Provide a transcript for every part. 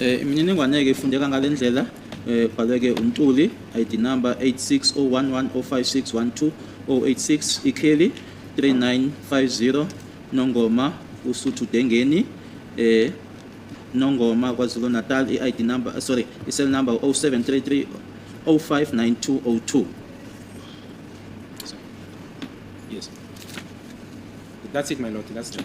Eh, imininingwane-ke ifundeka ngale ndlela eh, bhaleke umculi id number 8601105612 086 ikheli 3950 nongoma usuthu dengeni eh nongoma kwazulu natal i-id number eh, sorry i-cell number 0733 059202 yes that's it my lord that's it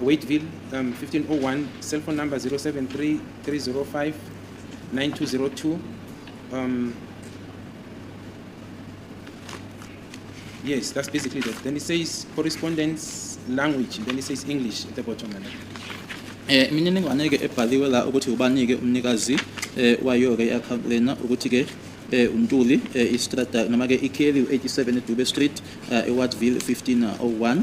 Waiteville um, 1501 cell phone number 073 305 9202 um, yes that's basically that then it says correspondence language then it says english at the bottom and eh imininingwane ke ebhaliwe la ukuthi ubanike umnikazi eh wayo ke account lena ukuthi ke eh untuli eh istrata noma ke ikheli 87 Dube Street eh eWardville 1501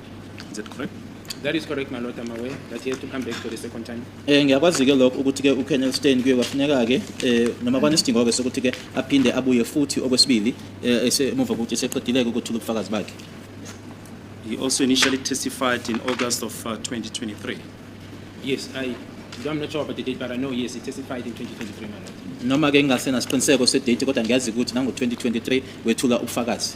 Is that correct? That is correct, my lord, I'm aware that he had to come back for the second time. Eh ngiyakwazi ke lokho ukuthi ke uKenneth Stein kuye kwafuneka ke eh noma kwanesidingo ke sokuthi ke aphinde abuye futhi okwesibili eh esemuva ukuthi seqedileke ukuthula ubufakazi bakhe. He also initially testified in August of uh, 2023. Yes, I, I'm not sure about the date, but I know, yes, he testified in 2023, my lord. Noma ke ngingasena siqiniseko sedate kodwa ngiyazi ukuthi nango 2023 wethula ubufakazi.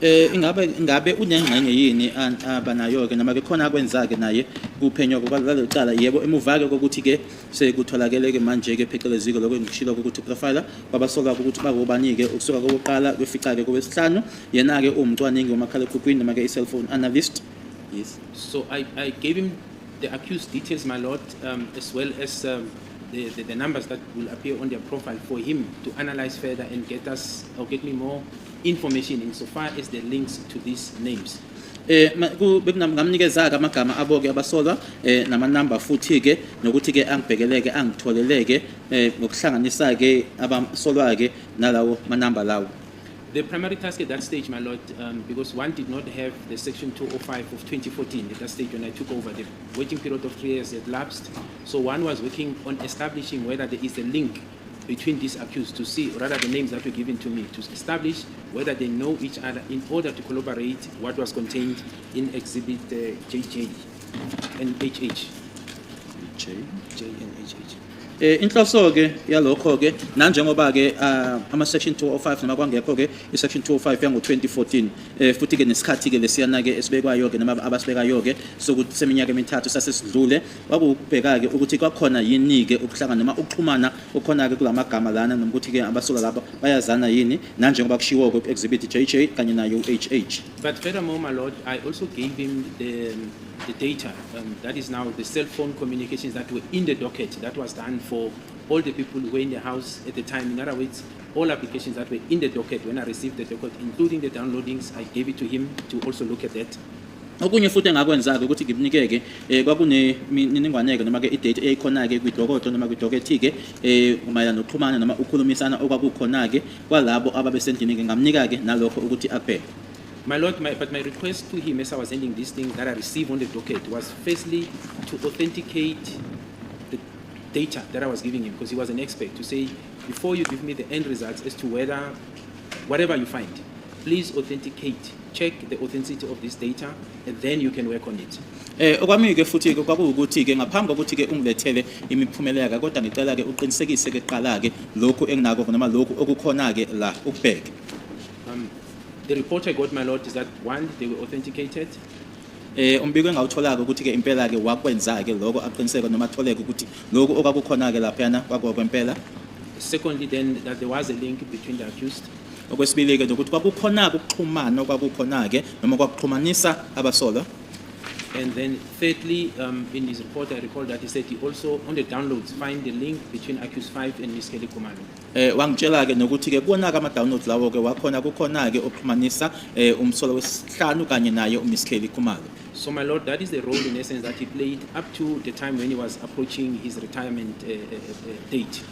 Eh ingabe ingabe unengxenye yini abanayo ke noma ke khona akwenza ke naye kuphenywa kwalelo cala yebo emuva ke ukuthi ke sekutholakele ke manje ke pheceleziko lokho engishilo ukuthi profiler kwabasoka ukuthi bakubani ke ukusuka kokuqala kwefica ke kowesihlanu yena ke umcwaningi wamakhala ekhukhwini noma ke i-cellphone analyst yes so i i gave him the accused details my lord um, as well as um, the, the, the numbers that will appear on their profile for him to analyze further and get us or get me more information in so far as the links to these names eh bekungamnikezaka amagama aboke abasolwa eh nama number futhi ke nokuthi ke angibhekeleke angitholeleke eh ngokuhlanganisa ke abasolwa ke nalawo ma number lawo The primary task at that stage, my lord, um, because one did not have the section 205 of 2014 at that stage when I took over, the waiting period of three years had lapsed. So one was working on establishing whether there is a link between these accused to see rather the names that were given to me to establish whether they know each other in order to collaborate what was contained in exhibit uh, JJ and HH. J. J and HH. Eh inhloso ke yalokho ke nanjengoba ke ah, ama section 205 noma kwangekho ke i section 205 yango 2014 eh futhi ke nesikhathi ke lesiyana ke esibekwayo ke noma abasibekayo ke sokuthi seminyaka emithathu sasesidlule Kwakuwukubheka-ke ukuthi kwakhona yini-ke ukuhlangana noma ukuxhumana okukhona-ke kula magama lana noma ukuthi-ke abasuka lapha bayazana yini nanjengoba kushiwo-ke ku-exhibit JJ kanye nayo u-HH. But furthermore, my lord, I also gave him the, um, the data um, that is now the cell phone communications that were in the docket that was done for all the people who were in the house at the time. In other words, all applications that were in the docket when I received the docket, including the downloadings, I gave it to him to also look at that. Okunye futhi engakwenza-ke ukuthi ngimnike-ke um kwakunemininingwane-ke noma-ke idate eyayikhona-ke kwidokodo noma kwidokethike um mayelana nokuxhumana noma ukukhulumisana okwakukhona-ke kwalabo ababesendlini-ke ngamnika-ke nalokho ukuthi akubheke My Lord, my, but my request to him as I was ending these things that I received on the docket was firstly to authenticate the data that I was giving him because he was an expert to say, before you give me the end results as to whether, whatever you find, Please authenticate, check the authenticity of this data and then you can work on it. Eh okwami ke futhi ke kwakuwukuthi ke ngaphambi kokuthi ke ungilethele imiphumela yaka kodwa ngicela ke uqinisekise ke qala ke lokhu enginako noma lokhu okukhona ke la ukubheke. Um the report I got my lord is that one they were authenticated eh umbiko engawuthola ke ukuthi ke impela ke wakwenza ke lokho aqiniseke noma atholeke ukuthi lokho okwakukhona ke lapha yana kwakwempela secondly then that there was a link between the accused okwesibili-ke nokuthi kwakukhona-ke ukuxhumana okwakukhona-ke noma kwakuxhumanisa abasolwa And then thirdly, um, in his report, I recall that he said he also, on the downloads, find the link between Accused 5 and Miss Kelly Kumalo. eh wangitshela-ke nokuthi-ke kuwona-ke ama-download lawo-ke wakhona kukhona-ke okuxhumanisa eh umsolo wesihlanu kanye naye umiss kelly khumalo So, my lord, that is the role in essence that he played up to the time when he was approaching his retirement uh, uh, uh, date.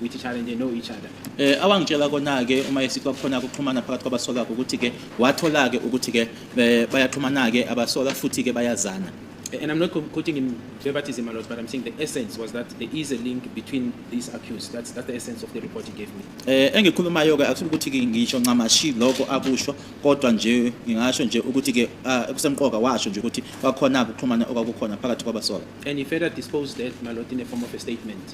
with each other and they know each other Eh awangitshela kona ke uma esithi kwakhona ukuxhumana phakathi kwabasola ukuthi ke wathola ke ukuthi ke eh, bayaxhumana ke abasola futhi ke bayazana. and i'm not co- quoting him verbatim a lot but i'm saying the essence was that there is a link between these accused that's that's the essence of the report he gave me Eh engikhulumayo ke akusuthi ukuthi ke ngisho ncamashi lokho akusho kodwa nje ngingasho nje ukuthi ke ah, kusemqoka washo nje ukuthi kwakhona ukuxhumana okwakukhona phakathi kwabasola. and he further disposed that malot in the form of a statement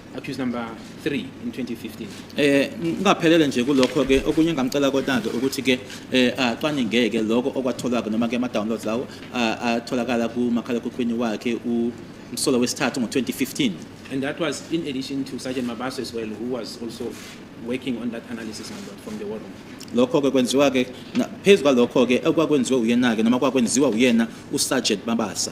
accused number 3 in 2015 eh ngaphelele nje kulokho ke okunye engamcela kotanto ukuthi ke eh acwaninge ke lokho okwatholwa noma ke ama downloads lawo atholakala ku makhala kukhwini wakhe u msolo wesithathu ngo-2015 and that was in addition to sergeant mabaso as well who was also working on that analysis number from the war room lokho ke kwenziwa ke phezu kwalokho ke okwakwenziwe uyena ke noma kwakwenziwa uyena usergeant mabasa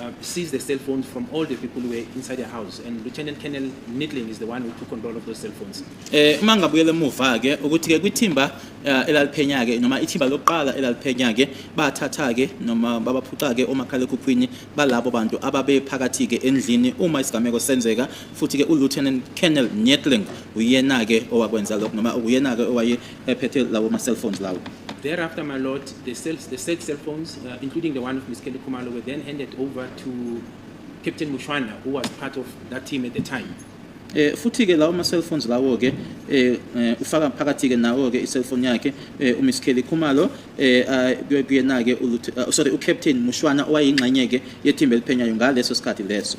uh, seized the cell phones from all the people who were inside the house and Lieutenant Colonel Nittling is the one who took control of those cell phones. Eh uma ngabuyela emuva ke ukuthi ke kwithimba eh, elaliphenya ke noma ithimba lokuqala elaliphenya ke bathatha ke noma babaphuca ke omakhalekhukhwini balabo bantu ababe phakathi ke endlini uma isigameko senzeka futhi ke uLieutenant Colonel Nittling uyena ke owakwenza lokho noma uyena ke owaye ephethe lawo ma cellphones lawo Thereafter, my lord, the, cell, the said cell phones, uh, including the one of Ms. Kelly Kumalo, were then handed over to Captain Mushwana, who was part of that team at the time. Eh futhi ke lawo ma cell phones lawo ke eh eh, ufaka phakathi ke nawo ke i cell phone yakhe eh uMiss Kelly Khumalo eh ah, kuye- kuyena ke uLut- ah, sorry uCaptain Mushwana owayingxenye ke yethimba eliphenyayo ngaleso sikhathi leso.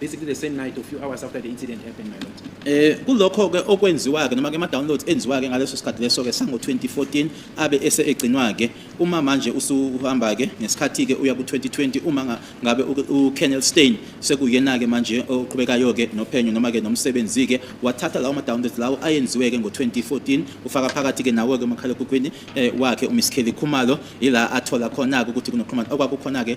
basically the same night or few hours after the incident happened my lord eh kulokho ke okwenziwa ke noma ke ama downloads enziwa ke ngaleso sikhathi leso ke sango 2014 abe ese egcinwa ke uma manje usuhamba ke ngesikhathi ke uya ku 2020 uma ngabe u Kennel Stein sekuyena ke manje oqhubekayo ke nophenyo noma ke nomsebenzi ke wathatha lawo ma downloads lawo ayenziwe ke ngo 2014 ufaka phakathi ke nawo ke umakhalekhukhwini eh, wakhe uMiss Kelly Khumalo ila athola khona ukuthi kunoqhumana okwakukhona ke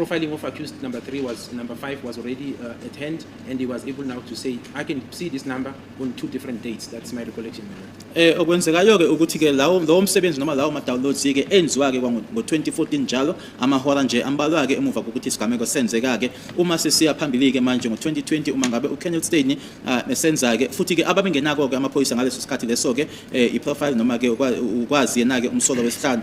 profiling of accused number three was number five was already uh, at hand, and he was able now to say, I can see this number on two different dates. That's my recollection. Eh okwenzekayo ke ukuthi ke lawo lowo msebenzi noma lawo ma downloads ke enziwa ke ngo-2014 njalo amahora nje ambalwa ke emuva kokuthi isigameko senzeka ke uma sesiya phambili ke manje ngo-2020 uma ngabe uKenneth Steyn ah, esenza ke futhi ke ababengenako ke amaphoyisa ngaleso sikhathi leso ke eh, i-profile noma ke ukwazi yena ke umsolo wesihlanu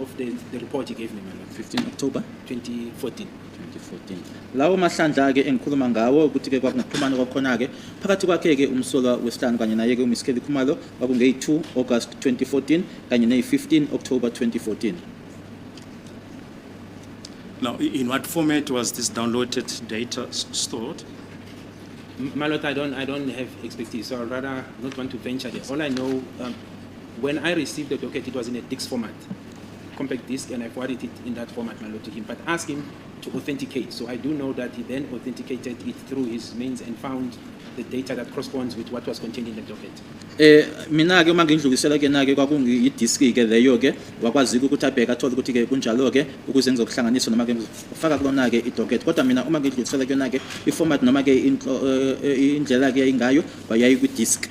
of the, the report he gave me, my lord. 15 October 2014. 2014 lawo mahlandla-ke engikhuluma ngawo ukuthi-ke kwakungaxhumana kwakhona-ke phakathi kwakhe-ke umsolwa wesihlanu kanye naye-ke umiss kelly khumalo kwakungeyi-2 august 2014 kanye neyi-15 october 2014 Now, i- in what format was this downloaded data s- stored? M- My lord, I don't, I don't have expertise, so I'd rather not want to venture there. All I know, um, When I received the docket, it was in a DIX format, compact disc, and I forwarded it in that format, my lord, to him. But asked him to authenticate. So I do know that he then authenticated it through his means and found the data that corresponds with what was contained in the docket. Eh mina ke uma ngindlulisela ke nake kwakungi disk ke leyo ke wakwazi ukuthi abheke athola ukuthi ke kunjalo ke ukuze ngizokuhlanganisa noma ke ngifaka kulona ke idocket kodwa mina uma ngidlulisela ke nake iformat noma ke eh, eh, indlela ke yayingayo wayayi kwi disk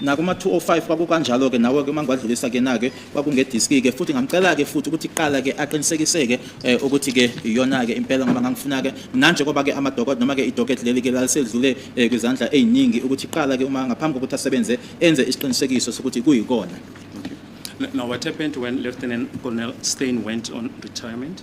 nakuma-205 kwakukanjalo-ke nawe-ke uma ngiwadlulisa ke na-ke kwakungediski-ke futhi ngamcela-ke futhi ukuthi kuqala-ke aqinisekiseke eh, ukuthi-ke iyona-ke impela ngoba ngangifuna-ke nanje koba-ke amadokot noma-ke idoketi leli-ke lalisedlule eh, kwizandla ey'ningi ukuthi kuqala-ke uma ngaphambi kokuthi asebenze enze isiqinisekiso sokuthi kuyikona Now, what happened when Lieutenant Colonel Steyn went on retirement?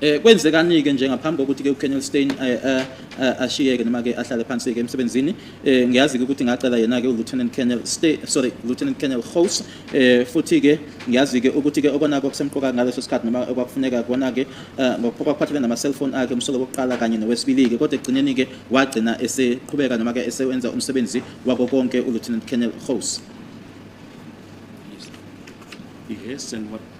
Eh kwenzekani-ke nje ngaphambi kokuthi-ke uKenel Steyn eh, eh, eh, ashiyeke noma-ke ahlale phansi-ke emsebenzini eh ngiyazi-ke ukuthi ngacela yena-ke uLieutenant Colonel Steyn sorry Lieutenant Colonel Gous eh futhi-ke ngiyazi-ke ukuthi-ke okonako kusemqoka ngaleso sikhathi noma okwakufuneka kona-ke eh, ngokwakuphathelene nama-cellphone akhe umsolo wokuqala kanye nowesibili-ke kodwa ekugcineni-ke wagcina eseqhubeka noma-ke esewenza umsebenzi wako konke uLieutenant Colonel Gous Yes, and what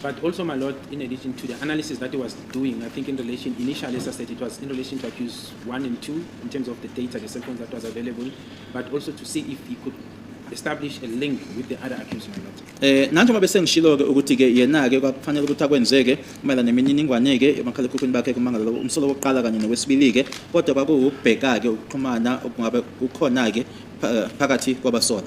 But also, my lord, in addition to the analysis that he was doing, I think in relation, initially, as I said, it was in relation to accuse one and two in terms of the data, the cell phones that was available, but also to see if he could establish a link with the other accused or not. Eh nanjengoba bese ngishilo ke ukuthi ke yena ke kwakufanele ukuthi akwenzeke kumela nemininingwane ke emakhalekhukhwini bakhe kumangalo umsolo wokuqala kanye nowesibili ke kodwa kwakuwubheka ke ukuxhumana okungabe kukhona ke phakathi kwabasola.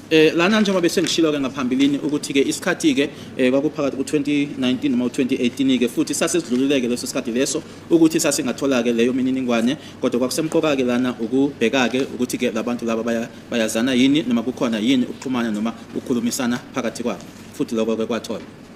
Eh lana njengoba besengishilo ke ngaphambilini ukuthi ke isikhathi ke eh, kwakuphakathi ku2019 noma u2018 ke futhi sasesidlululeke leso sikhathi leso ukuthi sasingathola ke leyo mininingwane kodwa kwakusemqoka ke lana ukubheka ke ukuthi ke labantu laba baya bayazana yini noma kukhona yini ukuxhumana noma ukukhulumisana phakathi kwabo futhi lokho ke kwathola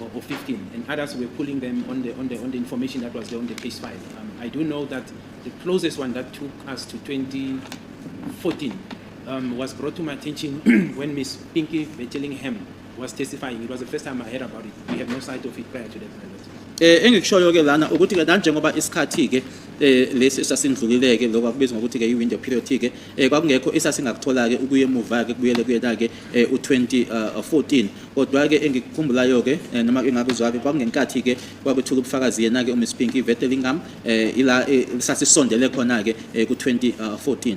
or, or 15, and others were pulling them on the, on the, on the information that was there on the case file. Um, I do know that the closest one that took us to 2014 um, was brought to my attention when Miss Pinky Betellingham was testifying. It was the first time I heard about it. We had no sight of it prior to that. Eh engikushoyo ke lana ukuthi ke nanjengoba isikhathi ke eh lesi esasindlulileke lokho akubizwa ngokuthi ke i-window period ke eh kwakungekho esasingakuthola ke ukuyemuva ke kubuyele kuyena ke eh, u-2014 kodwa-ke engikukhumbulayo-ke eh, noma ke ngakuzwa-ke kwakungenkathi-ke kwakuthuka ubufakazi yena-ke umiss pink ivete lingam um eh, ila eh, sasisondele khona-ke eh, ku-2014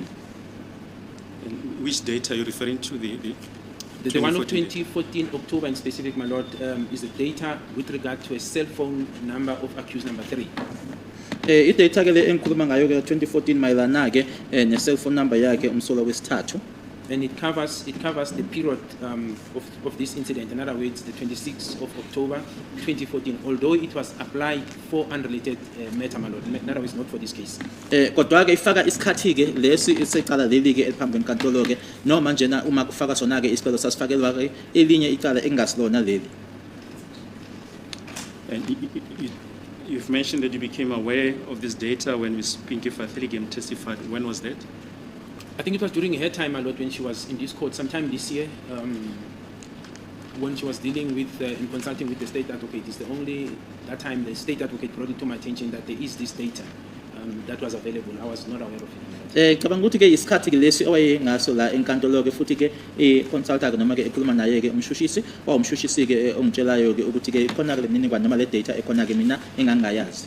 Which date are you referring to? The, the, The, the one of 2014 October in specific, my lord, um, is the data with regard to a cell phone number of accused number three. eh idata ke le engikhuluma ngayo ke 2014 mayelana ke eh ne cell phone number yakhe umsolwa wesithathu and it covers it covers the period um, of, of this incident. In other words, the 26th of October 2014. Although it was applied for unrelated uh, matter, my lord. In other words, not for this case. Eh kodwa ke ifaka isikhathi ke lesi isecala leli ke eliphambi kwenkantolo ke noma njena uma kufaka sona ke isicelo sasifakelwa ke elinye icala engasilona leli. And you've mentioned that you became aware of this data when Ms. Pinky Fathili testified. When was that? I think it was during her time a lot when she was in this court, sometime this year, um, when she was dealing with uh, and consulting with the state advocate, is the only that time the state advocate brought it to my attention that there is this data um, that was available. I was not aware of it. Eh cabanga ukuthi ke isikhathi ke lesi owayengaso la enkantolo ke futhi ke i consultant noma ke ekhuluma naye ke umshushisi wawumshushisi ke eh, ongitshelayo ke ukuthi ke ikhona ke lemininingwane noma le data ekhona ke mina engangayazi.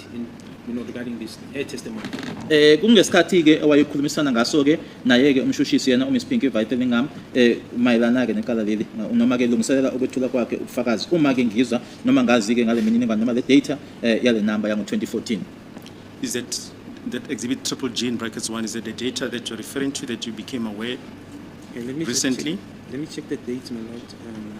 you know, regarding this her testimony. Eh kungesikhathi ke owayekhulumisana ngaso ke naye ke umshushisi yena uMiss Pinky Vitellingham eh mayelana ke nekala leli noma ke lungiselela ukwethula kwakhe ubufakazi uma ke ngizwa noma ngazi ke ngale mininingwane noma le data eh, yale number yango 2014 Is that that exhibit triple G in brackets one is that the data that you're referring to that you became aware Okay, let me just recently? check- Let me check the date, my lord. Um,